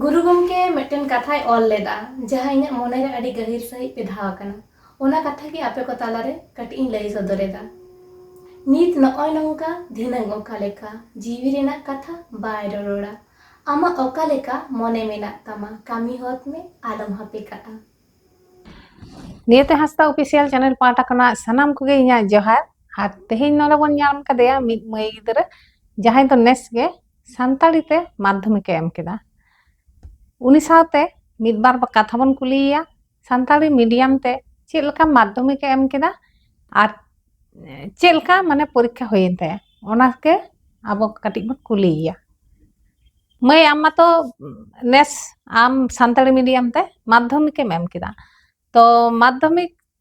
ᱜᱩᱨᱩ ᱜᱚᱢᱠᱮ ᱢᱤᱫᱴᱮᱱ ᱠᱟᱛᱷᱟᱭ ᱚᱞ ᱞᱮᱫᱟ ᱡᱟᱦᱟᱸ ᱤᱧᱟᱹᱜ ᱢᱚᱱᱮ ᱨᱮ ᱟᱹᱰᱤ ᱜᱟᱹᱦᱤᱨ ᱥᱟᱺᱦᱤᱡ ᱯᱮᱫᱷᱟᱣ ᱟᱠᱟᱱᱟ ᱚᱱᱟ ᱠᱟᱛᱷᱟ ᱜᱮ ᱟᱯᱮ ᱠᱚ ᱛᱟᱞᱟ ᱨᱮ ᱠᱟᱹᱴᱤᱡ ᱤᱧ ᱞᱟᱹᱭ ᱥᱚᱫᱚᱨ ᱮᱫᱟ ᱱᱤᱛ ᱱᱚᱜᱼᱚᱭ ᱱᱚᱝᱠᱟ ᱫᱷᱤᱱᱟᱹᱝ ᱚᱠᱟ ᱞᱮᱠᱟ ᱡᱤᱣᱤ ᱨᱮᱱᱟᱜ ᱠᱟᱛᱷᱟ ᱵᱟᱭ ᱨᱚᱨᱚᱲᱟ ᱟᱢᱟᱜ ᱚᱠᱟ ᱞᱮᱠᱟ ᱢᱚᱱᱮ ᱢᱮᱱᱟᱜ ᱛᱟᱢᱟ ᱠᱟᱹᱢᱤ ᱦᱚᱫ ᱢᱮ ᱟᱞᱚᱢ ᱦᱟᱯᱮ ᱠᱟᱜᱼᱟ ᱱᱤᱭᱟᱹᱛᱮ ᱦᱟᱸᱥᱫᱟ ᱚᱯᱷᱤᱥᱤᱭᱟᱞ ᱪᱮᱱᱮᱞ ᱯᱟᱦᱴᱟ ᱠᱷᱚᱱᱟᱜ ᱥᱟᱱᱟᱢ ᱠᱚᱜᱮ ᱤᱧᱟᱹᱜ ᱡᱚᱦᱟᱨ ᱟᱨ ᱛᱮᱦᱮᱧ ᱱᱚᱰᱮ ᱵᱚᱱ ᱧᱟᱢ ᱠᱟᱫᱮᱭᱟ ᱢᱤᱫ ᱢᱟᱹᱭ ᱜᱤᱫᱽᱨᱟᱹ ᱡᱟᱦᱟᱸᱭ ᱫᱚ ᱱᱮᱥ ᱜᱮ ᱥᱟᱱᱛᱟᱲᱤ ᱛᱮ ᱢᱟᱫᱽᱫᱷᱚᱢᱤᱠᱮ ᱮᱢ ᱠᱮᱫᱟ ᱩᱱᱤ ᱥᱟᱶᱛᱮ ᱢᱤᱫ ᱵᱟᱨ ᱠᱟᱛᱷᱟ ᱵᱚᱱ ᱠᱩᱞᱤᱭᱮᱭᱟ ᱥᱟᱱᱛᱟᱲᱤ ᱢᱤᱰᱤᱭᱟᱢ ᱛᱮ ᱪᱮᱫ ᱞᱮᱠᱟ ᱢᱟᱫᱽᱫᱷᱚᱢᱤᱠᱮ ᱮᱢ ᱠᱮᱫᱟ ᱟᱨ ᱪᱮᱫ ᱞᱮᱠᱟ ᱢᱟᱱᱮ ᱯᱚᱨᱤᱠᱠᱷᱟ ᱦᱩᱭᱮᱱ ᱛᱟᱭᱟ ᱚᱱᱟᱜᱮ ᱟᱵᱚ ᱠᱟᱹᱴᱤᱡ ᱵᱚᱱ ᱠᱩᱞᱤᱭᱮᱭᱟ ᱢᱟᱹᱭ ᱟᱢ ᱢᱟᱛᱚ ᱱᱮᱥ ᱟᱢ ᱥᱟᱱᱛᱟᱲᱤ ᱢᱤᱰᱤᱭᱟᱢ ᱛᱮ ᱢᱟᱫᱽᱫᱷᱚᱢᱤᱠᱮᱢ ᱮᱢ ᱠᱮᱫᱟ ᱛᱚ ᱢᱟᱫᱽᱫᱷᱚᱢᱤᱠ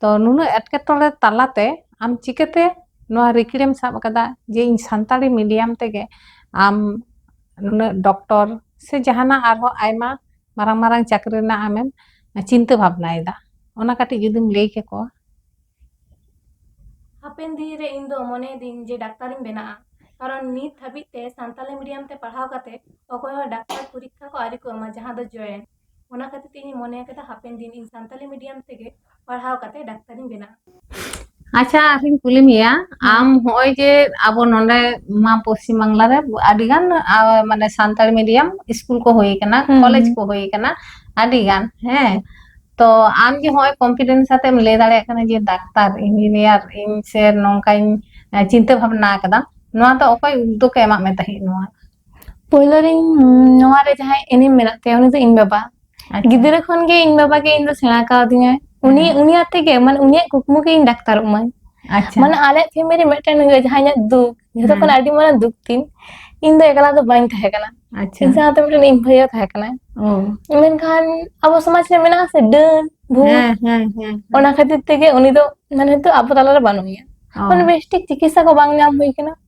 ᱛᱚ ᱱᱩᱱᱟᱹᱜ ᱮᱴᱠᱮᱴᱚᱬᱮ ᱛᱟᱞᱟᱛᱮ ᱟᱢ ᱪᱤᱠᱟᱹᱛᱮ ᱱᱚᱣᱟ ᱨᱤᱠᱤᱲᱮᱢ ᱥᱟᱵ ᱟᱠᱟᱫᱟ ᱡᱮ ᱤᱧ ᱥᱟᱱᱛᱟᱲᱤ ᱢᱤᱰᱤᱭᱟᱢ ᱛᱮᱜᱮ ᱟᱢ ᱱᱩᱱᱟᱹᱜ ᱰᱚᱠᱴᱚᱨ ᱥᱮ ᱡᱟᱦᱟᱱᱟᱜ ᱟᱨᱦᱚᱸ ᱟᱭᱢᱟ ᱢᱟᱨᱟᱝ ᱢᱟᱨᱟᱝ ᱪᱟᱹᱠᱨᱤ ᱨᱮᱱᱟᱜ ᱟᱢᱮᱢ ᱪᱤᱱᱛᱟᱹ ᱵᱷᱟᱵᱽᱱᱟᱭᱮᱫᱟ ᱚᱱᱟ ᱠᱟᱹᱴᱤᱡ ᱡᱩᱫᱤᱢ ᱞᱟᱹᱭ ᱠᱮᱠᱚᱣᱟ ᱦᱟᱯᱮᱱ ᱫᱤᱱ ᱨᱮ ᱤᱧ ᱫᱚ ᱢᱚᱱᱮᱭᱮᱫᱟᱹᱧ ᱡᱮ ᱰᱟᱠᱛᱟᱨᱤᱧ ᱵᱮᱱᱟᱜᱼᱟ ᱠᱟᱨᱚᱱ ᱱᱤᱛ ᱦᱟᱹᱵᱤᱡ ᱛᱮ ᱥᱟᱱᱛᱟᱲᱤ ᱢᱤᱰᱤᱭᱟᱢ ᱛᱮ ᱯᱟᱲᱦᱟᱣ ᱠᱟᱛᱮ ᱚᱠᱚᱭ ᱦᱚᱸ ᱰᱟᱠᱛᱟᱨ ᱯᱚᱨᱤᱠᱠᱷᱟ ᱠᱚ ᱟᱹᱣᱨᱤ ᱠᱚ ᱮᱢᱟ ᱡᱟᱦᱟᱸ ᱫᱚ ᱡᱚᱭᱮᱱᱴ ᱚᱱᱟ ᱠᱷᱟᱹᱛᱤᱨ ᱛᱮ ᱤᱧᱤᱧ ᱢᱚᱱᱮ ᱟᱠᱟᱫᱟ ᱦᱟᱯᱮᱱ ᱫᱤᱱ ᱤᱧ ᱥᱟᱱᱛᱟᱞᱤ ᱢᱤᱰᱤᱭᱟᱢ ᱛᱮᱜᱮ ᱯᱟᱲᱦᱟᱣ ᱠᱟᱛᱮ ᱰᱟᱠᱛᱟᱨᱤᱧ ᱵᱮᱱᱟᱜᱼᱟ ᱟᱪᱪᱷᱟ ᱟᱨᱤᱧ ᱠᱩᱞᱤ ᱢᱮᱭᱟ ᱟᱢ ᱦᱚᱸᱜᱼᱚᱭ ᱡᱮ ᱟᱵᱚ ᱱᱚᱰᱮ ᱢᱟ ᱯᱚᱥᱪᱤᱢ ᱵᱟᱝᱞᱟ ᱨᱮ ᱟᱹᱰᱤ ᱜᱟᱱ ᱢᱟᱱᱮ ᱥᱟᱱᱛᱟᱲᱤ ᱢᱤᱰᱤᱭᱟᱢ ᱥᱠᱩᱞ ᱠᱚ ᱦᱩᱭ ᱠᱟᱱᱟ ᱠᱚᱞᱮᱡᱽ ᱠᱚ ᱦᱩᱭ ᱠᱟᱱᱟ ᱟᱹᱰᱤ ᱜᱟᱱ ᱦᱮᱸ ᱛᱚ ᱟᱢ ᱡᱮ ᱦᱚᱸᱜᱼᱚᱭ ᱠᱚᱱᱯᱷᱤᱰᱮᱱᱥ ᱟᱛᱮᱢ ᱞᱟᱹᱭ ᱫᱟᱲᱮᱭᱟᱜ ᱠᱟᱱᱟ ᱡᱮ ᱰᱟᱠᱛᱟᱨ ᱤᱧᱡᱤᱱᱤᱭᱟᱨ ᱤᱧ ᱥᱮ ᱱᱚᱝᱠᱟᱧ ᱪᱤᱱᱛᱟᱹ ᱵᱷᱟᱵᱱᱟ ᱟᱠᱟᱫᱟ ᱱᱚᱣᱟ ᱫᱚ ᱚᱠᱚᱭ ᱩᱫᱽᱫᱳᱜᱽ ᱮ ᱮᱢᱟᱜ ᱢᱮ ᱛᱟᱦᱮᱸᱫ ᱱᱚᱣᱟ ᱯᱳᱭᱞᱳ ᱨᱤᱧ ᱱᱚᱣᱟ ᱨᱮ ᱡᱟᱦᱟᱸᱭ ᱮᱱᱮᱢ ᱢᱮᱱᱟᱜ ᱛᱟᱭᱟ ᱩᱱᱤ ᱫᱚ ᱤᱧ ᱵᱟᱵᱟ ᱜᱤᱫᱽᱨᱟᱹ ᱠᱷᱚᱱ ᱜᱮ ᱤᱧ ᱵᱟᱵᱟ ᱜᱮ ᱤᱧ ᱫᱚ ᱥᱮᱬᱟ ᱠᱟᱣᱫᱤᱧᱟᱭ ᱩᱱᱤ ᱩᱱᱤ ᱟᱛᱮ ᱜᱮ ᱢᱟᱱᱮ ᱩᱱᱤᱭᱟᱜ ᱠᱩᱠᱢᱩ ᱜᱮ ᱤᱧ ᱰᱟᱠᱛᱟᱨᱚᱜ ᱢᱟᱹᱧ ᱟᱪᱪᱷᱟ ᱢᱟᱱᱮ ᱟᱞᱮ ᱯᱷᱮᱢᱮᱞᱤ ᱢᱤᱫᱴᱮᱱ ᱡᱟᱦᱟᱸ ᱤᱧᱟᱹᱜ ᱫᱩᱠ ᱡᱷᱚᱛᱚ ᱠᱷᱚᱱ ᱟᱹᱰᱤ ᱢᱟᱨᱟᱝ ᱫᱩᱠ ᱛᱤᱧ ᱤᱧ ᱫᱚ ᱮᱠᱞᱟ ᱫᱚ ᱵᱟᱹᱧ ᱛᱟᱦᱮᱸ ᱠᱟᱱᱟ ᱟᱪᱪᱷᱟ ᱤᱧ ᱥᱟᱶᱛᱮ ᱢᱤᱫᱴᱮᱱ ᱤᱧ ᱵᱷᱟᱹᱭ ᱛᱟᱦᱮᱸ ᱠᱟᱱᱟᱭ ᱢᱮᱱᱠᱷᱟᱱ ᱟᱵᱚ ᱥᱚᱢᱟᱡᱽ ᱨᱮ ᱢᱮᱱᱟᱜ ᱟᱥᱮ ᱰᱟᱹᱱ ᱵᱷᱩᱛ ᱚᱱᱟ ᱠᱷᱟᱹᱛᱤᱨ ᱛᱮᱜᱮ ᱩᱱᱤ ᱫᱚ ᱢᱟᱱᱮ ᱱᱤᱛᱚᱜ ᱟᱵᱚ ᱛᱟᱞᱟᱨᱮ ᱵᱟᱹᱱᱩᱜ ᱮᱭᱟ ᱢᱟᱱᱮ ᱵᱮᱥᱴᱷᱤᱠ ᱪᱤᱠᱤᱛᱥᱟ ᱠᱚ ᱵᱟᱝ ᱧᱟᱢ ᱦᱩᱭ ᱠᱟᱱᱟ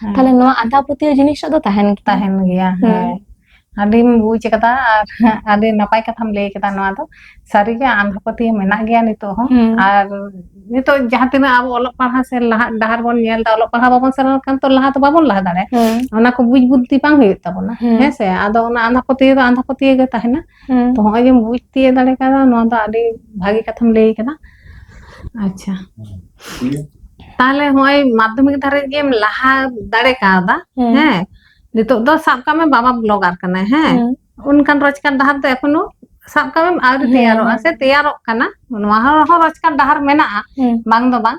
ᱦᱮᱸ ᱛᱟᱦᱞᱮ ᱱᱚᱣᱟ ᱟᱸᱫᱷᱟ ᱯᱟᱹᱛᱭᱟᱹᱣ ᱡᱤᱱᱤᱥᱴᱟᱜ ᱫᱚ ᱛᱟᱦᱮᱱ ᱜᱮᱭᱟ ᱛᱟᱦᱮᱱ ᱜᱮᱭᱟ ᱦᱮᱸ ᱟᱹᱰᱤᱢ ᱵᱩᱡ ᱟᱠᱟᱫᱟ ᱟᱨ ᱟᱹᱰᱤ ᱱᱟᱯᱟᱭ ᱠᱟᱛᱷᱟᱢ ᱞᱟᱹᱭ ᱠᱮᱫᱟ ᱱᱚᱣᱟ ᱫᱚ ᱥᱟᱹᱨᱤᱜᱮ ᱟᱸᱫᱷᱟ ᱯᱟᱹᱛᱭᱟᱹᱣ ᱢᱮᱱᱟᱜ ᱜᱮᱭᱟ ᱱᱤᱛᱚᱜ ᱦᱚᱸ ᱦᱩᱸ ᱟᱨ ᱱᱤᱛᱚᱜ ᱡᱟᱦᱟᱸ ᱛᱤᱱᱟᱹᱜ ᱟᱵᱚ ᱚᱞᱚᱜ ᱯᱟᱲᱦᱟᱜ ᱥᱮ ᱞᱟᱦᱟᱜ ᱰᱟᱦᱟᱨ ᱵᱚᱱ ᱧᱮᱞ ᱮᱫᱟ ᱚᱞᱚᱜ ᱯᱟᱲᱦᱟᱜ ᱵᱟᱵᱚᱱ ᱥᱮᱱ ᱞᱮᱱᱠᱷᱟᱱ ᱛᱚ ᱞᱟᱦᱟ ᱫᱚ ᱵᱟᱵᱚᱱ ᱞᱟᱦᱟ ᱫᱟᱲᱮᱭᱟᱜᱼᱟ ᱦᱩᱸ ᱚᱱᱟ ᱠᱚ ᱵᱩᱡ ᱵᱩᱫᱽᱫᱷᱤ ᱵᱟᱝ ᱦᱩᱭᱩᱜ ᱛᱟᱵᱚᱱᱟ ᱦᱩᱸ ᱦᱮᱸᱥᱮ ᱟᱫᱚ ᱚᱱᱟ ᱟᱸᱫᱷᱟ ᱯᱟᱹᱛᱭᱟᱹᱣ ᱫᱚ ᱟᱸᱫᱷᱟ ᱯᱟᱹᱛᱭᱟᱹᱣ ᱜᱮ ᱛᱟᱦᱮᱱᱟ ᱛᱚ ᱦᱚᱸᱜᱼᱚᱭ ᱡᱮᱢ ᱵᱩᱡᱽ ᱛᱤᱭᱟᱹᱜ ᱫᱟᱲᱮ ᱠᱟᱫᱟ ᱱᱚᱣᱟ ᱫᱚ ᱟᱹᱰᱤ ᱵᱷᱟᱜᱮ ᱠᱟᱛᱷᱟᱢ ᱞᱟᱹᱭ ᱠᱟᱫᱟ ᱟᱪᱪᱷᱟ ᱛᱟᱦᱞᱮ ᱦᱚᱸᱜᱼᱚᱭ ᱢᱟᱫᱽᱫᱷᱚᱢᱤᱠ ᱫᱷᱟᱹᱨᱤᱡ ᱜᱮᱢ ᱞᱟᱦᱟ ᱫᱟᱲᱮ ᱠᱟᱣᱫᱟ ᱦᱮᱸ ᱱᱤᱛᱚᱜ ᱫᱚ ᱥᱟᱵ ᱠᱟᱜ ᱢᱮ ᱵᱟᱵᱟ ᱵᱞᱚᱜᱟᱨ ᱠᱟᱱᱟᱭ ᱦᱮᱸ ᱚᱱᱠᱟᱱ ᱨᱳᱡᱽᱜᱟᱨ ᱰᱟᱦᱟᱨ ᱫᱚ ᱮᱠᱷᱚᱱᱳ ᱥᱟᱵ ᱠᱟᱜ ᱢᱮ ᱟᱹᱣᱨᱤ ᱛᱮᱭᱟᱨᱚᱜᱼᱟ ᱥᱮ ᱛᱮᱭᱟᱨᱚᱜ ᱠᱟᱱᱟ ᱱᱚᱣᱟ ᱦᱚᱸ ᱨᱳᱡᱽᱜᱟᱨ ᱰᱟᱦᱟᱨ ᱢᱮᱱᱟᱜᱼᱟ ᱵᱟᱝ ᱫᱚ ᱵᱟᱝ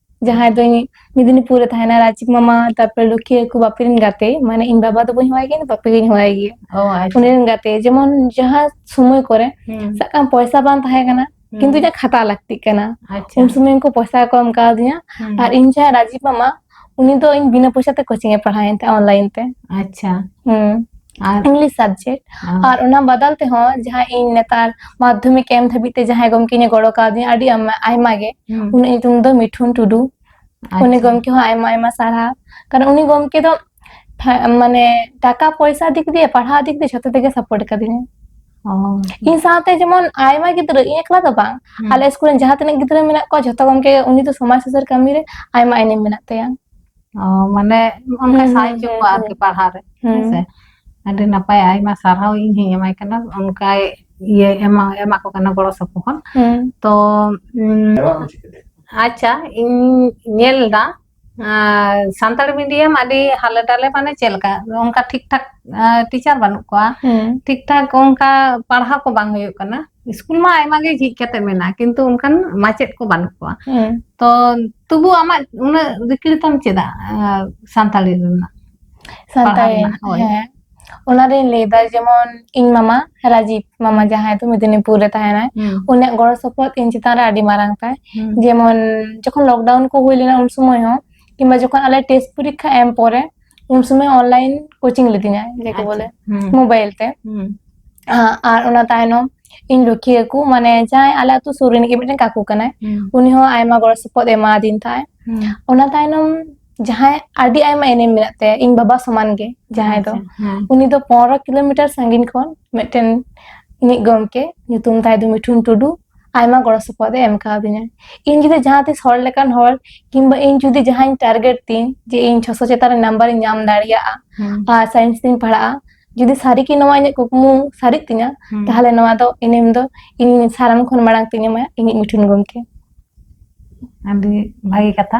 ᱡᱟᱦᱟᱸᱭ ᱫᱚ ᱢᱮᱫᱽᱱᱤᱯᱩᱨ ᱨᱮ ᱛᱟᱦᱮᱱᱟ ᱨᱟᱡᱤᱵ ᱢᱟᱢᱟ ᱛᱟᱨᱯᱚᱨᱮ ᱞᱩᱠᱷᱤᱭᱟᱹ ᱠᱚ ᱵᱟᱯᱤ ᱨᱮᱱ ᱜᱟᱛᱮ ᱢᱟᱱᱮ ᱤᱧ ᱵᱟᱵᱟ ᱫᱚ ᱵᱟᱹᱧ ᱦᱚᱦᱚᱭ ᱜᱮᱭᱟ ᱵᱟᱯᱤ ᱜᱤᱧ ᱦᱚᱦᱚᱭ ᱜᱮᱭᱟ ᱚ ᱟᱪᱪᱷᱟ ᱩᱱᱤ ᱨᱮᱱ ᱜᱟᱛᱮ ᱡᱮᱢᱚᱱ ᱡᱟᱦᱟᱸ ᱥᱚᱢᱚᱭ ᱠᱚᱨᱮ ᱦᱩᱸ ᱥᱟᱵ ᱠᱟᱜ ᱢᱮ ᱯᱚᱭᱥᱟ ᱵᱟᱝ ᱛᱟᱦᱮᱸ ᱠᱟᱱᱟ ᱠᱤᱱᱛᱩ ᱤᱧᱟᱹᱜ ᱠᱷᱟᱛᱟ ᱞᱟᱹᱠᱛᱤᱜ ᱠᱟᱱᱟ ᱟᱪᱪᱷᱟ ᱩᱱ ᱥᱚᱢᱚᱭ ᱩᱱᱠᱩ ᱯᱚᱭᱥᱟ ᱠᱚ ᱮᱢ ᱠᱟᱣᱫᱤᱧᱟ ᱦᱩᱸ ᱟᱨ ᱤᱧ ᱡᱟᱦᱟᱸ ᱨᱟᱡᱤᱵ ᱢᱟᱢᱟ ᱩᱱᱤ ᱫᱚ ᱤᱧ ᱵᱤᱱᱟᱹ ᱯᱚᱭᱥᱟ ᱛᱮ ᱠᱳᱪᱤᱝ ᱮ ᱯᱟᱲᱦᱟᱣᱤᱧ ᱛᱟᱦᱮᱸᱜ ᱚᱱᱞᱟᱭᱤᱱ ᱛᱮ ᱟᱪᱪᱷᱟ ᱦᱩᱸ ᱟᱨ ᱤᱝᱞᱤᱥ ᱥᱟᱵᱡᱮᱠᱴ ᱟᱨ ᱚᱱᱟ ᱵᱟᱫᱟᱞ ᱛᱮᱦᱚᱸ ᱡᱟᱦᱟᱸ ᱤᱧ ᱱᱮᱛᱟᱨ ᱢᱟᱫᱽᱫᱷᱚᱢᱤᱠ ᱮᱢ ᱫᱷᱟᱹᱵᱤᱡ ᱛᱮ ᱡᱟᱦᱟᱸᱭ ᱜᱚᱢᱠᱮᱧ ᱜᱚᱲᱚ ᱠᱟᱣᱫᱤᱧ ᱟᱹᱰᱤ ᱟᱭᱢᱟ ᱜᱮ ᱩᱱᱤ ᱧᱩᱛᱩᱢ ᱫᱚ ᱢᱤᱴᱷᱩᱱ ᱴᱩᱰᱩ ᱩᱱᱤ ᱜᱚᱢᱠᱮ ᱦᱚᱸ ᱟᱭᱢᱟ ᱟᱭᱢᱟ ᱥᱟᱨᱦᱟᱣ ᱠᱟᱨᱚᱱ ᱩᱱᱤ ᱜᱚᱢᱠᱮ ᱫᱚ ᱢᱟᱱᱮ ᱴᱟᱠᱟ ᱯᱚᱭᱥᱟ ᱫᱤᱠ ᱫᱤᱭᱮ ᱯᱟᱲᱦᱟᱣ ᱫᱤᱠ ᱫᱤᱭᱮ ᱡᱷᱚᱛᱚ ᱛᱮᱜᱮ ᱥᱟᱯᱳᱨᱴ ᱠᱟᱫᱤᱧᱟ ᱤᱧ ᱥᱟᱶᱛᱮ ᱡᱮᱢᱚᱱ ᱟᱭᱢᱟ ᱜᱤᱫᱽᱨᱟᱹ ᱤᱧ ᱮᱠᱞᱟ ᱫᱚ ᱵᱟᱝ ᱟᱞᱮ ᱥᱠᱩᱞ ᱨᱮᱱ ᱡᱟᱦᱟᱸ ᱛᱤᱱᱟᱹᱜ ᱜᱤᱫᱽᱨᱟᱹ ᱢᱮᱱᱟᱜ ᱠᱚᱣᱟ ᱡᱷᱚᱛᱚ ᱜᱚᱢᱠᱮ ᱩᱱᱤ ᱫᱚ ᱥᱚᱢᱟᱡᱽ ᱥᱩᱥᱟᱹᱨ ᱠᱟᱹᱢᱤ ᱨᱮ ᱟᱭᱢᱟ ᱮᱱᱮᱢ ᱢᱮᱱᱟᱜ ᱛᱟᱭᱟ ᱢᱟᱱᱮ ᱚᱱᱠᱟ ᱥᱟᱦᱟᱭ ᱦᱚᱪᱚ ᱠᱚᱣᱟ ᱟᱨᱠᱤ ᱯᱟᱲᱦᱟᱣ ᱨᱮ ᱦᱮᱸᱥᱮ ᱟᱹᱰᱤ ᱱᱟᱯᱟᱭ ᱟᱭᱢᱟ ᱥᱟᱨᱦᱟᱣ ᱤᱧ ᱦᱚᱧ ᱮᱢᱟᱭ ᱠᱟᱱᱟ ᱚᱱᱠᱟᱭ ᱤᱭᱟᱹ ᱮᱢᱟ ᱮᱢᱟ ᱠᱚ ᱠᱟᱱᱟ ᱜᱚᱲᱚ ᱥᱚᱯᱚᱦᱚᱫ ᱛᱚ ᱟᱪᱪᱷᱟ ᱤᱧ ᱧᱮᱞ ᱮᱫᱟ ᱥᱟᱱᱛᱟᱲ ᱢᱤᱰᱤᱭᱟᱢ ᱟᱹᱰᱤ ᱦᱟᱞᱮ ᱰᱟᱞᱮ ᱢᱟᱱᱮ ᱪᱮᱫ ᱞᱮᱠᱟ ᱚᱱᱠᱟ ᱴᱷᱤᱠ ᱴᱷᱟᱠ ᱴᱤᱪᱟᱨ ᱵᱟᱹᱱᱩᱜ ᱠᱚᱣᱟ ᱴᱷᱤᱠ ᱴᱷᱟᱠ ᱚᱱᱠᱟ ᱯᱟᱲᱦᱟᱣ ᱠᱚ ᱵᱟᱝ ᱦᱩᱭᱩᱜ ᱠᱟᱱᱟ ᱥᱠᱩᱞ ᱢᱟ ᱟᱭᱢᱟ ᱜᱮ ᱡᱷᱤᱡ ᱠᱟᱛᱮ ᱢᱮᱱᱟᱜᱼᱟ ᱠᱤᱱᱛᱩ ᱚᱱᱠᱟᱱ ᱢᱟᱪᱮᱫ ᱠᱚ ᱵᱟᱹᱱᱩᱜ ᱠᱚᱣᱟ ᱛᱚ ᱛᱚᱵᱩ ᱟᱢᱟᱜ ᱩᱱᱟᱹᱜ ᱨᱤᱠᱤᱲᱛᱟᱢ ᱪᱮᱫᱟᱜ ᱥᱟᱱᱛᱟᱲᱤ ᱨᱮᱱᱟᱜ ᱥᱟᱱᱛᱟᱲᱤ ᱦᱮᱸ ᱚᱱᱟᱨᱤᱧ ᱞᱟᱹᱭᱫᱟ ᱡᱮᱢᱚᱱ ᱤᱧ ᱢᱟᱢᱟ ᱨᱟᱡᱤᱵ ᱢᱟᱢᱟ ᱡᱟᱦᱟᱸᱭ ᱫᱚ ᱢᱮᱫᱤᱱᱤᱯᱩᱨ ᱨᱮ ᱛᱟᱦᱮᱱᱟᱭ ᱩᱱᱤᱭᱟᱜ ᱜᱚᱲᱚ ᱥᱚᱯᱚᱦᱚᱫ ᱤᱧ ᱪᱮᱛᱟᱱ ᱨᱮ ᱟᱹᱰᱤ ᱢᱟᱨᱟᱝ ᱛᱟᱭ ᱡᱮᱢᱚᱱ ᱡᱚᱠᱷᱚᱱ ᱞᱚᱠᱰᱟᱣᱩᱱ ᱠᱚ ᱦᱩᱭ ᱞᱮᱱᱟ ᱩᱱ ᱥᱚᱢᱚᱭ ᱦᱚᱸ ᱠᱤᱝᱵᱟ ᱡᱚᱠᱷᱚᱱ ᱟᱞᱮ ᱴᱮᱥᱴ ᱯᱚᱨᱤᱠᱠᱷᱟ ᱮᱢ ᱯᱚᱨᱮ ᱩᱱ ᱥᱚᱢᱚᱭ ᱚᱱᱞᱟᱭᱤᱱ ᱠᱳᱪᱤᱝ ᱞᱤᱫᱤᱧᱟ ᱡᱮᱠᱚ ᱵᱚᱞᱮ ᱢᱳᱵᱟᱭᱤᱞ ᱛᱮ ᱟᱨ ᱚᱱᱟ ᱛᱟᱭᱱᱚᱢ ᱤᱧ ᱨᱩᱠᱷᱤᱭᱟᱹ ᱠᱚ ᱢᱟᱱᱮ ᱡᱟᱦᱟᱸᱭ ᱟᱞᱮ ᱟᱛᱳ ᱥᱩᱨ ᱨᱤᱱᱤᱡ ᱜᱮ ᱢᱤᱫᱴᱮᱱ ᱠᱟᱠᱩ ᱠᱟᱱᱟᱭ ᱩᱱᱤ ᱦᱚᱸ ᱟᱭᱢᱟ ᱜᱚᱲᱚ ᱥᱚᱯᱚᱦᱚᱫ ᱮᱢᱟᱫᱤᱧ ᱛᱟᱦᱮᱸ ᱚᱱᱟ ᱛᱟᱭᱱᱚᱢ ᱡᱟᱦᱟᱸᱭ ᱟᱹᱰᱤ ᱟᱭᱢᱟ ᱮᱱᱮᱢ ᱢᱮᱱᱟᱜ ᱛᱟᱭᱟ ᱤᱧ ᱵᱟᱵᱟ ᱥᱚᱢᱟᱱ ᱜᱮ ᱡᱟᱦᱟᱸᱭ ᱫᱚ ᱩᱱᱤ ᱫᱚ ᱯᱚᱱᱨᱚ ᱠᱤᱞᱳᱢᱤᱴᱟᱨ ᱥᱟᱺᱜᱤᱧ ᱠᱷᱚᱱ ᱢᱤᱫᱴᱮᱱ ᱤᱧᱤᱡ ᱜᱚᱢᱠᱮ ᱧᱩᱛᱩᱢ ᱛᱟᱭ ᱫᱚ ᱢᱤᱴᱷᱩᱱ ᱴᱩᱰᱩ ᱟᱭᱢᱟ ᱜᱚᱲᱚ ᱥᱚᱯᱚᱦᱚᱫ ᱮ ᱮᱢ ᱠᱟᱣᱫᱤᱧᱟ ᱤᱧ ᱡᱩᱫᱤ ᱡᱟᱦᱟᱸ ᱛᱤᱥ ᱦᱚᱲ ᱞᱮᱠᱟᱱ ᱦᱚᱲ ᱠᱤᱝᱵᱟ ᱤᱧ ᱡᱩᱫᱤ ᱡᱟᱦᱟᱸᱧ ᱴᱟᱨᱜᱮᱴ ᱛᱤᱧ ᱡᱮ ᱤᱧ ᱪᱷᱚᱥᱚ ᱪᱮᱛᱟᱱ ᱨᱮ ᱱᱟᱢᱵᱟᱨ ᱤᱧ ᱧᱟᱢ ᱫᱟᱲᱮᱭᱟᱜᱼᱟ ᱟᱨ ᱥᱟᱭᱮᱱᱥ ᱛᱤᱧ ᱯᱟᱲᱦᱟᱜᱼᱟ ᱡᱩᱫᱤ ᱥᱟᱹᱨᱤ ᱜᱮ ᱱᱚᱣᱟ ᱤᱧᱟᱹᱜ ᱠᱩᱠᱢᱩ ᱥᱟᱹᱨᱤᱜ ᱛᱤᱧᱟ ᱛᱟᱦᱚᱞᱮ ᱱᱚᱣᱟ ᱫᱚ ᱮᱱᱮᱢ ᱫᱚ ᱤᱧ ᱥᱟᱱᱟᱢ ᱠᱷᱚᱱ ᱢᱟᱲᱟᱝ ᱛᱤᱧ ᱮᱢᱟ ᱤᱧᱤᱡ ᱢᱩᱴᱷᱟᱹᱱ ᱜᱚᱢᱠᱮ ᱟᱹᱰᱤ ᱵᱷᱟᱹᱜᱤ ᱠᱟᱛᱷᱟ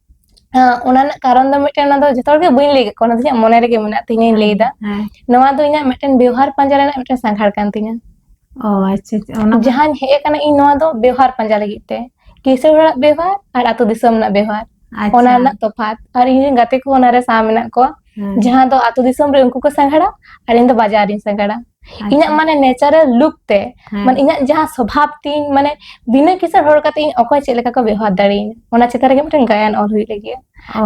ᱚᱱᱟ ᱨᱮᱱᱟᱜ ᱠᱟᱨᱚᱱ ᱫᱚ ᱢᱤᱫᱴᱮᱱ ᱚᱱᱟ ᱫᱚ ᱡᱚᱛᱚ ᱦᱚᱲ ᱜᱮ ᱵᱟᱹᱧ ᱞᱟᱹᱭ ᱠᱟᱫ ᱠᱚᱣᱟ ᱚᱱᱟ ᱫᱚ ᱤᱧᱟᱹᱜ ᱢᱚᱱᱮ ᱨᱮᱜᱮ ᱢᱮᱱᱟᱜ ᱛᱤᱧᱟᱹᱧ ᱞᱟᱹᱭ ᱫᱟ ᱱᱚᱣᱟ ᱫᱚ ᱤᱧᱟᱹᱜ ᱢᱤᱫᱴᱮᱱ ᱵᱮᱣᱦᱟᱨ ᱯᱟᱸᱡᱟ ᱨᱮᱱᱟᱜ ᱢᱤᱫᱴᱮᱱ ᱥᱟᱸᱜᱷᱟᱨ ᱠᱟᱱ ᱛᱤᱧᱟᱹ ᱚ ᱟᱪᱪᱷᱟ ᱚᱱᱟ ᱡᱟᱦᱟᱸᱧ ᱦᱮᱡ ᱟᱠᱟᱱᱟ ᱤᱧ ᱱᱚᱣᱟ ᱫᱚ ᱵᱮᱣᱦᱟᱨ ᱯᱟᱸᱡᱟ ᱞᱟᱹᱜᱤᱫ ᱛᱮ ᱠᱤᱥᱟᱹᱬ ᱦᱚᱲᱟᱜ ᱵᱮᱣᱦᱟᱨ ᱟᱨ ᱟᱹᱛᱩ ᱫᱤᱥᱚᱢ ᱨᱮᱱᱟᱜ ᱵᱮᱣᱦᱟᱨ ᱚᱱᱟ ᱨᱮᱱᱟᱜ ᱛᱚᱯᱷᱟᱛ ᱟᱨ ᱤᱧ ᱨᱮᱱ ᱜᱟᱛᱮ ᱠᱚ ᱚᱱᱟᱨᱮ ᱥᱟᱶ ᱢᱮᱱᱟᱜ ᱠᱚᱣᱟ ᱡᱟᱦᱟᱸ ᱫᱚ ᱟᱛᱳ ᱫᱤᱥᱚᱢ ᱨᱮ ᱩᱱᱠᱩ ᱠᱚ ᱥᱟᱸᱜᱷᱟᱨᱟ ᱟᱨ ᱤᱧ ᱫᱚ ᱵᱟᱡᱟᱨ ᱨᱤᱧ ᱥᱟᱸᱜᱷᱟᱨᱟ ᱤᱧᱟᱹᱜ ᱢᱟᱱᱮ ᱱᱮᱪᱟᱨᱟᱞ ᱞᱩᱠ ᱛᱮ ᱢᱟᱱᱮ ᱤᱧᱟᱹᱜ ᱡᱟᱦᱟᱸ ᱥᱚᱵᱷᱟᱵ ᱛᱤᱧ ᱢᱟᱱᱮ ᱵᱤᱱᱟᱹ ᱠᱤᱥᱟᱹᱬ ᱦᱚᱲ ᱠᱟᱛᱮ ᱤᱧ ᱚᱠᱚᱭ ᱪᱮᱫ ᱞᱮᱠᱟ ᱠᱚ ᱵᱮᱣᱦᱟᱨ ᱫᱟᱲᱮᱭᱟᱹᱧ ᱚᱱᱟ ᱪᱮᱛᱟᱱ ᱨᱮᱜᱮ ᱢᱤᱫᱴᱮᱱ ᱜᱟᱭᱟᱱ ᱚᱞ ᱦᱩᱭᱩᱜ ᱞᱟᱹᱜᱤᱫ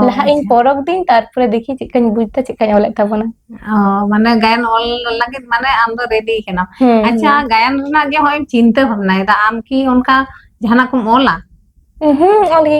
ᱞᱟᱦᱟ ᱤᱧ ᱯᱚᱨᱚᱵᱽ ᱫᱤᱧ ᱛᱟᱨᱯᱚᱨᱮ ᱫᱮᱠᱷᱤ ᱪᱮᱫ ᱠᱟᱧ ᱵᱩᱡ ᱫᱟ ᱪᱮᱫ ᱠᱟᱧ ᱚᱞᱮᱫ ᱛᱟᱵᱚᱱᱟ ᱢᱟᱱᱮ ᱜᱟᱭᱟᱱ ᱚᱞ ᱞᱟᱹᱜᱤᱫ ᱢᱟᱱᱮ ᱟᱢ ᱫᱚ ᱨᱮᱰᱤ ᱠᱟᱱᱟᱢ ᱟᱪᱪᱷᱟ ᱜᱟᱭᱟᱱ ᱨᱮᱱᱟᱜ ᱜᱮ ᱦᱚᱸᱜᱼᱚᱭ ᱪᱤᱱᱛᱟᱹ ᱵᱷᱟᱵᱱᱟᱭᱮᱫᱟ ᱟᱢ ᱠᱤ ᱚᱱᱠᱟ ᱡᱟᱦᱟᱱᱟᱜ ᱠᱚᱢ ᱚᱞᱟ ᱦᱩᱸ ᱚᱞ ᱜᱮ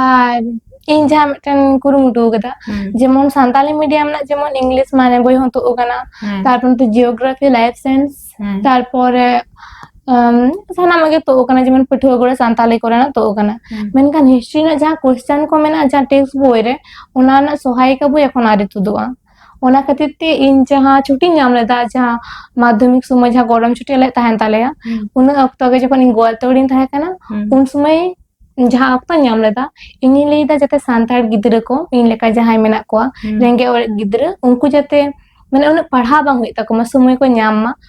ᱟᱨ ᱤᱧ ᱡᱟᱦᱟᱸ ᱢᱤᱫᱴᱮᱱ ᱠᱩᱨᱩᱢᱩᱴᱩ ᱟᱠᱟᱫᱟ ᱡᱮᱢᱚᱱ ᱥᱟᱱᱛᱟᱞᱤ ᱢᱤᱰᱤᱭᱟᱢ ᱨᱮᱱᱟᱜ ᱡᱮᱢᱚᱱ ᱤᱝᱞᱤᱥ ᱢᱟᱱᱮ ᱵᱳᱭ ᱦᱚᱸ ᱛᱩᱫ ᱟᱠᱟᱱᱟ ᱛᱟᱨᱯᱚᱨ ᱱᱚᱛᱮ ᱡᱤᱭᱳᱜᱨᱟᱯᱷᱤ ᱞᱟᱭᱤᱯᱷ ᱥᱟᱭᱮᱱᱥ ᱛᱟᱨᱯᱚᱨᱮ ᱥᱟᱱᱟᱢᱟᱜ ᱜᱮ ᱛᱩᱫ ᱟᱠᱟᱱᱟ ᱡᱮᱢᱚᱱ ᱯᱟᱹᱴᱷᱩᱣᱟᱹ ᱠᱚᱨᱮ ᱥᱟᱱᱛᱟᱞᱤ ᱠᱚᱨᱮᱱᱟᱜ ᱛᱩᱫ ᱟᱠᱟᱱᱟ ᱢᱮᱱᱠᱷᱟᱱ ᱦᱤᱥᱴᱨᱤ ᱨᱮᱱᱟᱜ ᱡᱟᱦᱟᱸ ᱠᱚᱥᱪᱟᱱ ᱠᱚ ᱢᱮᱱᱟᱜᱼᱟ ᱡᱟᱦᱟᱸ ᱴᱮᱠᱥᱴ ᱵᱳᱭ ᱨᱮ ᱚᱱᱟ ᱨᱮᱱᱟᱜ ᱥᱚᱦᱟᱭᱤᱠᱟ ᱵᱳᱭ ᱮᱠᱷᱚᱱ ᱟᱹᱣᱨᱤ ᱛᱩᱫᱩᱜᱼᱟ ᱚᱱᱟ ᱠᱷᱟᱹᱛᱤᱨ ᱛᱮ ᱤᱧ ᱡᱟᱦᱟᱸ ᱪᱷᱩᱴᱤᱧ ᱧᱟᱢ ᱞᱮᱫᱟ ᱡᱟᱦᱟᱸ ᱢᱟᱫᱽᱫᱷᱚᱢᱤᱠ ᱥᱚᱢᱚᱭ ᱡᱟᱦᱟᱸ ᱜᱚᱨᱚᱢ ᱪᱷᱩᱴᱤ ᱟᱞᱮ ᱛᱟᱦᱮᱱ ᱛᱟᱞᱮᱭᱟ ᱩᱱᱟᱹᱜ ᱚᱠᱛᱚ ᱜᱮ ᱡᱚᱠᱷᱚᱱ ᱤᱧ ᱜᱳᱣᱟᱞᱛᱳᱲᱤᱧ ᱛᱟᱦᱮᱸ ᱠᱟᱱᱟ ᱩᱱ ᱥᱚᱢᱚᱭ ᱡᱟᱦᱟᱸ ᱚᱠᱛᱚᱧ ᱧᱟᱢ ᱞᱮᱫᱟ ᱤᱧᱤᱧ ᱞᱟᱹᱭᱫᱟ ᱡᱟᱛᱮ ᱥᱟᱱᱛᱟᱲ ᱜᱤᱫᱽᱨᱟᱹ ᱠᱚ ᱤᱧ ᱞᱮᱠᱟ ᱡᱟᱦᱟᱸᱭ ᱢᱮᱱᱟᱜ ᱠᱚᱣᱟ ᱨᱮᱸᱜᱮᱡ ᱚᱨᱮᱡ ᱜᱤᱫᱽᱨᱟᱹ ᱩᱱᱠᱩ ᱡᱟᱛᱮ ᱢᱟᱱᱮ ᱩᱱᱟᱹᱜ ᱯᱟᱲᱦᱟᱣ ᱵᱟᱝ ᱦᱩᱭᱩᱜ ᱛᱟᱠᱚ ᱢᱟ ᱥᱚᱢᱚᱭ ᱠᱚ ᱧᱟᱢ ᱢᱟ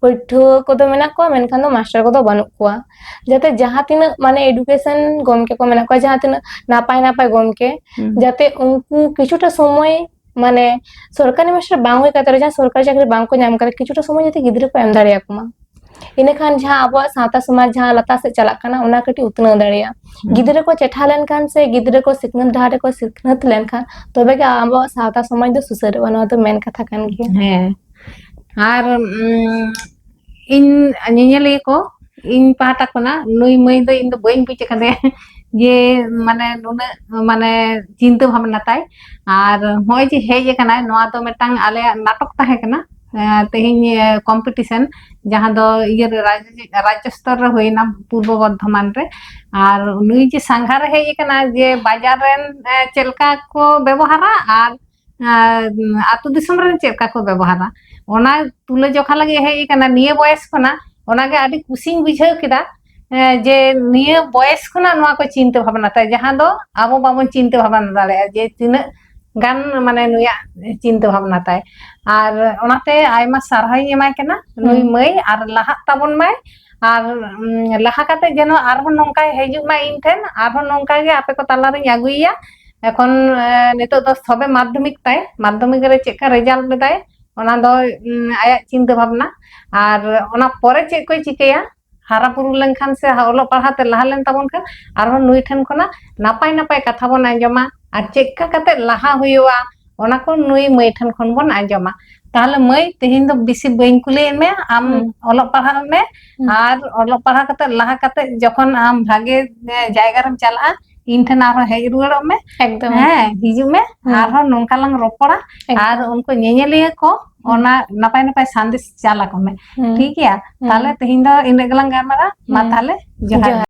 ᱯᱟᱹᱴᱷᱩᱣᱟᱹ ᱠᱚᱫᱚ ᱢᱮᱱᱟᱜ ᱠᱚᱣᱟ ᱢᱮᱱᱠᱷᱟᱱ ᱫᱚ ᱢᱟᱥᱴᱟᱨ ᱠᱚᱫᱚ ᱵᱟᱹᱱᱩᱜ ᱠᱚᱣᱟ ᱡᱟᱛᱮ ᱡᱟᱦᱟᱸ ᱛᱤᱱᱟᱹᱜ ᱢᱟᱱᱮ ᱮᱰᱩᱠᱮᱥᱚᱱ ᱜᱚᱢᱠᱮ ᱠᱚ ᱢᱮᱱᱟᱜ ᱠᱚᱣᱟ ᱡᱟᱦᱟᱸ ᱛᱤᱱᱟᱹᱜ ᱱᱟᱯᱟᱭ ᱱᱟᱯᱟᱭ ᱜᱚᱢᱠᱮ ᱡᱟᱛᱮ ᱩᱱᱠᱩ ᱠᱤᱪᱷᱩᱴᱟ ᱥᱚᱢᱚᱭ ᱢᱟᱱᱮ ᱥᱚᱨᱠᱟᱨᱤ ᱢᱟᱥᱴᱟᱨ ᱵᱟᱝ ᱦᱩᱭ ᱠᱟᱛᱮ ᱡᱟᱦᱟᱸ ᱥᱚᱨᱠᱟᱨᱤ ᱪᱟᱹᱠᱨᱤ ᱵᱟᱝ ᱠᱚ ᱧᱟᱢ ᱠᱟᱫᱟ ᱠᱤᱪᱷᱩᱴᱟ ᱥᱚᱢᱚᱭ ᱡᱟᱛᱮ ᱜᱤᱫᱽᱨᱟᱹ ᱠᱚ ᱮᱢ ᱫᱟᱲᱮᱭᱟᱠᱚ ᱢᱟ ᱤᱱᱟᱹᱠᱷᱟᱱ ᱡᱟᱦᱟᱸ ᱟᱵᱚᱣᱟᱜ ᱥᱟᱶᱛᱟ ᱥᱚᱢᱟᱡᱽ ᱡᱟᱦᱟᱸ ᱞᱟᱛᱟᱨ ᱥᱮᱫ ᱪᱟᱞᱟᱜ ᱠᱟᱱᱟ ᱚᱱᱟ ᱠᱟᱹᱴᱤᱡ ᱩᱛᱱᱟᱹᱣ ᱫᱟᱲᱮᱭᱟᱜᱼᱟ ᱜᱤᱫᱽᱨᱟᱹ ᱠᱚ ᱪᱮᱴᱷᱟ ᱞᱮᱱᱠᱷᱟᱱ ᱥᱮ ᱜᱤᱫᱽᱨᱟᱹ ᱠᱚ ᱥᱤᱠᱷᱱᱟᱹᱛ ᱰᱟᱦᱟᱨ ᱨᱮᱠᱚ ᱥᱤᱠᱷᱱᱟᱹᱛ ᱞᱮᱱᱠᱷᱟᱱ ᱛᱚᱵᱮ ᱜᱮ ᱟᱵᱚᱣᱟᱜ ᱥᱟᱶᱛᱟ ᱥᱚᱢᱟᱡᱽ ᱫᱚ ᱥᱩᱥᱟᱹᱨᱚᱜᱼᱟ ᱱᱚᱣᱟ ᱫᱚ ᱢᱮᱱ ᱠᱟᱛᱷᱟ ᱠᱟᱱ ᱜᱮᱭᱟ ᱦᱮᱸ ᱟᱨ ᱤᱧ ᱧᱮᱧᱮᱞᱤᱭᱟᱹ ᱠᱚ ᱤᱧ ᱯᱟᱦᱴᱟ ᱠᱷᱚᱱᱟᱜ ᱱᱩᱭ ᱢᱟᱹᱭ ᱫᱚ ᱤᱧ ᱫᱚ ᱵᱟᱹᱧ ᱵᱩᱡ ᱟᱠᱟᱫᱮᱭᱟ ᱡᱮ ᱢᱟᱱᱮ ᱱᱩᱱᱟᱹᱜ ᱢᱟᱱᱮ ᱪᱤᱱᱛᱟᱹ ᱵᱷᱟᱵᱱᱟ ᱛᱟᱭ ᱟᱨ ᱱᱚᱜᱼᱚᱭ ᱡᱮ ᱦᱮᱡ ᱟᱠᱟᱱᱟᱭ ᱱᱚᱣᱟ ᱫᱚ ᱢᱤᱫᱴᱟᱝ ᱟᱞᱮᱭᱟᱜ ᱱᱟᱴᱚᱠ ᱛᱟᱦᱮᱸ ᱠᱟᱱᱟ ᱛᱮᱦᱮᱧ ᱠᱚᱢᱯᱤᱴᱤᱥᱮᱱ ᱡᱟᱦᱟᱸ ᱫᱚ ᱤᱭᱟᱹ ᱨᱟᱡᱽᱡᱚ ᱥᱛᱚᱨ ᱨᱮ ᱦᱩᱭᱱᱟ ᱯᱩᱨᱵᱚ ᱵᱚᱨᱫᱷᱚᱢᱟᱱ ᱨᱮ ᱟᱨ ᱱᱩᱭ ᱡᱮ ᱥᱟᱸᱜᱷᱟᱨᱮ ᱦᱮᱡ ᱟᱠᱟᱱᱟ ᱡᱮ ᱵᱟᱡᱟᱨ ᱨᱮᱱ ᱪᱮᱫ ᱞᱮᱠᱟ ᱠᱚ ᱵᱮᱵᱚᱦᱟᱨᱟ ᱟᱨ ᱟᱛᱳ ᱫᱤᱥᱚᱢ ᱨᱮ ᱪᱮᱫ ᱞᱮᱠᱟ ᱠᱚ ᱵᱮᱵᱚᱦᱟᱨᱟ ᱚᱱᱟ ᱛᱩᱞᱟᱹᱡᱚᱠᱷᱟ ᱞᱟᱹᱜᱤᱫ ᱦᱮᱡ ᱟᱠᱟᱱᱟ ᱱᱤᱭᱟᱹ ᱵᱚᱭᱮᱥ ᱠᱷᱚᱱᱟᱜ ᱚᱱᱟᱜᱮ ᱟᱹᱰᱤ ᱠᱩᱥᱤᱧ ᱵᱩᱡᱷᱟᱹᱣ ᱠᱮᱫᱟ ᱡᱮ ᱱᱤᱭᱟᱹ ᱵᱚᱭᱮᱥ ᱠᱷᱚᱱᱟᱜ ᱱᱚᱣᱟ ᱠᱚ ᱪᱤᱱᱛᱟᱹ ᱵᱷᱟᱵᱱᱟ ᱛᱟᱭ ᱡᱟᱦᱟᱸ ᱫᱚ ᱟᱵᱚ ᱵᱟᱵᱚᱱ ᱪᱤᱱᱛᱟᱹ ᱵᱷᱟᱵᱱᱟ ᱫᱟᱲᱮᱭᱟᱜᱼᱟ ᱡᱮ ᱛᱤᱱᱟᱹᱜ ᱜᱟᱱ ᱢᱟᱱᱮ ᱱᱩᱭᱟᱜ ᱪᱤᱱᱛᱟᱹ ᱵᱷᱟᱵᱱᱟ ᱛᱟᱭ ᱟᱨ ᱚᱱᱟᱛᱮ ᱟᱭᱢᱟ ᱥᱟᱨᱦᱟᱣᱤᱧ ᱮᱢᱟᱭ ᱠᱟᱱᱟ ᱱᱩᱭ ᱢᱟᱹᱭ ᱟᱨ ᱞᱟᱦᱟᱜ ᱛᱟᱵᱚᱱ ᱢᱟᱭ ᱟᱨ ᱞᱟᱦᱟ ᱠᱟᱛᱮ ᱡᱮᱱᱚ ᱟᱨᱦᱚᱸ ᱱᱚᱝᱠᱟᱭ ᱦᱤᱡᱩᱜ ᱢᱟ ᱤᱧ ᱴᱷᱮᱱ ᱟᱨᱦᱚᱸ ᱱᱚᱝᱠᱟ ᱜᱮ ᱟᱯᱮ ᱠᱚ ᱛᱟᱞᱟ ᱨᱤᱧ ᱟᱹᱜᱩᱭᱮᱭᱟ ᱮᱠᱷᱚᱱ ᱱᱤᱛᱚᱜ ᱫᱚ ᱥᱚᱵᱮ ᱢᱟᱫᱽᱫᱷᱚᱢᱤᱠ ᱛᱟᱭ ᱢᱟᱫᱽᱫᱷᱚᱢᱤᱠ ᱨᱮ ᱪᱮᱫ ᱞᱮᱠᱟ ᱨᱮᱡᱟᱞᱴ ᱞᱮᱫᱟᱭ ᱚᱱᱟ ᱫᱚ ᱟᱭᱟᱜ ᱪᱤᱱᱛᱟᱹ ᱵᱷᱟᱵᱽᱱᱟ ᱟᱨ ᱚᱱᱟ ᱯᱚᱨᱮ ᱪᱮᱫ ᱠᱚᱭ ᱪᱤᱠᱟᱹᱭᱟ ᱦᱟᱨᱟ ᱵᱩᱨᱩ ᱞᱮᱱᱠᱷᱟᱱ ᱥᱮ ᱚᱞᱚᱜ ᱯᱟᱲᱦᱟᱣ ᱛᱮ ᱞᱟᱦᱟ ᱞᱮᱱ ᱛᱟᱵᱚᱱ ᱠᱷᱟᱱ ᱟᱨᱦᱚᱸ ᱱᱩᱭ ᱴᱷᱮᱱ ᱠᱷᱚᱱᱟᱜ ᱱᱟᱯᱟᱭ ᱱᱟᱯᱟᱭ ᱠᱟᱛᱷᱟ ᱵᱚᱱ ᱟᱸᱡᱚᱢᱟ ᱟᱨ ᱪᱮᱫ ᱞᱮᱠᱟ ᱠᱟᱛᱮ ᱞᱟᱦᱟ ᱦᱩᱭᱩᱜᱼᱟ ᱚᱱᱟ ᱠᱚ ᱱᱩᱭ ᱢᱟᱹᱭ ᱴᱷᱮᱱ ᱠᱷᱚᱱ ᱵᱚᱱ ᱟᱸᱡᱚᱢᱟ ᱛᱟᱦᱞᱮ ᱢᱟᱹᱭ ᱛᱮᱦᱮᱧ ᱫᱚ ᱵᱤᱥᱤ ᱵᱟᱹᱧ ᱠᱩᱞᱤᱭᱮᱫ ᱢᱮᱭᱟ ᱟᱢ ᱚᱞᱚᱜ ᱯᱟᱲᱦᱟᱜ ᱢᱮ ᱟᱨ ᱚᱞᱚᱜ ᱯᱟᱲᱦᱟᱜ ᱠᱟᱛᱮ ᱞᱟᱦᱟ ᱠᱟᱛᱮ ᱡᱚᱠᱷᱚᱱ ᱟᱢ ᱵᱷᱟᱜᱮ ᱡᱟᱭᱜᱟ ᱨᱮᱢ ᱪᱟᱞᱟᱜᱼᱟ ᱤᱧ ᱴᱷᱮᱱ ᱟᱨᱦᱚᱸ ᱦᱮᱡ ᱨᱩᱣᱟᱹᱲᱚᱜ ᱢᱮ ᱮᱠᱫᱚᱢ ᱦᱮᱸ ᱦᱤᱡᱩᱜ ᱢᱮ ᱟᱨᱦᱚᱸ ᱱᱚᱝᱠᱟ ᱞᱟᱝ ᱨᱚᱯᱚᱲᱟ ᱟᱨ ᱩᱱᱠᱩ ᱧᱮᱧᱮᱞᱤᱭᱟᱹ ᱠᱚ ᱚᱱᱟ ᱱᱟᱯᱟᱭ ᱱᱟᱯᱟᱭ ᱥᱟᱸᱫᱮᱥ ᱪᱟᱞ ᱟᱠᱚ ᱢᱮ ᱴᱷᱤᱠ ᱜᱮᱭᱟ ᱛᱟᱦᱞᱮ ᱛᱮᱦᱮᱧ ᱫᱚ ᱤᱱᱟᱹᱜ ᱜᱮᱞᱟᱝ ᱜᱟᱞᱢᱟᱨᱟᱜᱼᱟ ᱢᱟ ᱛᱟᱦᱞᱮ ᱡᱚᱦᱟᱨ ᱜᱮ